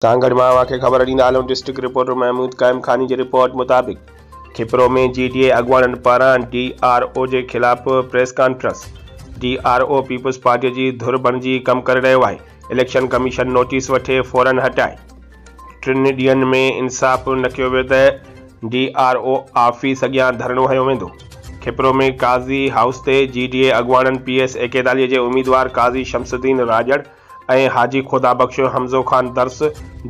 سانگهڙ مان اوهان کي خبر ڏيندا هلون ڊسٽرڪٽ رپورٽر محمود قائم خاني جي رپورٽ مطابق کپرو ۾ جي ڊي اي اڳواڻن پاران ڊي آر او جي خلاف press conference, D R O peoples party جي ڌر بڻجي ڪم ڪري رهيو آهي، اليڪشن ڪميشن نوٽيس وٺي فورن هٽائي. ٽن ڏينهن ۾ انصاف نه ڪيو ويو ته ڊي آر او آفيس اڳيان ڌرڻو هنيو ويندو. کپرو ۾ قاضي هائوس تي جي ڊي اي اڳواڻن پي ايس ايڪيتاليهه جي اميدوار قاضي شمس الدين راڄڙ، ۽ حاجي خدا Bakhsh Hamzo Khan Dars,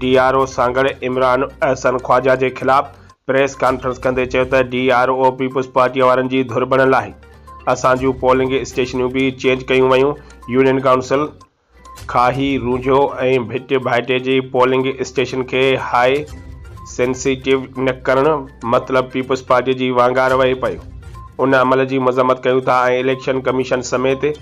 D R O Sanghar Imran Ahsan Khawaja جي خلاف پريس ڪانفرنس ڪندي چيو ته ڊي آر او پيپلز پارٽيء وارن جي ڌر بڻيل آهي، اسان جون پولنگ اسٽيشنيون به چينج ڪيون ويون، يونين ڪائونسل، کاهي، رونجهو ۽ ڀٽ ڀائٽي جي پولنگ اسٽيشن کي هاء سينسيٽيو نه ڪرڻ مطلب پيپلز پارٽيء جي وانگار وهي پيو، ان عمل جي مذمت ڪيون ٿا ۽ اليڪشن ڪميشن سميت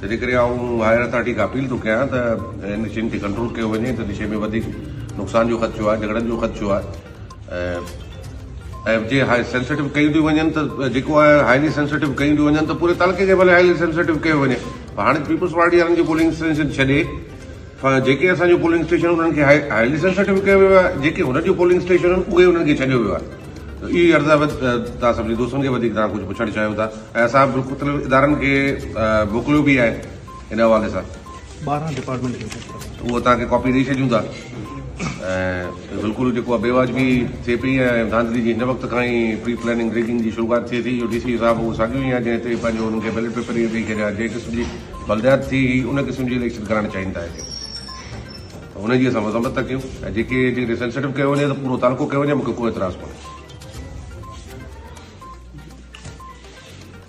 تنهنجي ڪري آئون هائير اٿارٽي کان اپيل ٿو ڪيان ته هن شين کي ڪنٽرول ڪيو وڃي ته نشي ۾ وڌيڪ نقصان جو خدشو آهي جهڳڙن جو خدشو آهي ۽ جي هاء سينسيٽو ڪيون ٿيون وڃن ته جيڪو آهي هائلي سينسيٽو ڪيون ٿيون وڃن ته پوري تعلقي کي ڀلي هائلي سينسيٽو ڪيو وڃي هاڻي پيپلز پارٽي وارن جي پولنگ اسٽيشن ڇڏي جيڪي اسان جون پولنگ اسٽيشنون انهن کي هائلي سينسٽو ڪيو ويو آهي جيڪي هن جون پولنگ اسٽيشنون آهن اهي انهن کي ڇڏيو ويو آهي اهي عرض آهي توهان سڀني دوستن کي وڌيڪ توهان ڪجهه پڇڻ چاهيو ٿا ۽ اسان به مختلف ادارن کي موڪليو به آهي ان حوالي سان ٻارهن ڊپارٽمينٽ کي اهو توهان کي ڪاپي ڏئي ڇڏيون ٿا ۽ بلڪل جيڪو بي واجبي ٿئي پئي ۽ ڌانڌلي جي هن وقت کان ئي پري پلاننگ ريگنگ جي شروعات ٿئي ٿي اهو ڊي سي جو صاحب اهو ساڳيو ئي آهي جنهن تي پنهنجو انهن کي بيلٽ پيپر ڏيئي ڇڏيا جنهن قسم جي بلديات جي هي ان قسم جي اليڪشن ڪرائڻ چاهين ٿا هتي ته ان جي اسان مذمت ٿا ڪيون ۽ جيڪي جيڪڏهن سينسيٽو ڪيو وڃي ته پورو تعلقو ڪيو وڃي مون کي ڪو اعتراض ڪونهي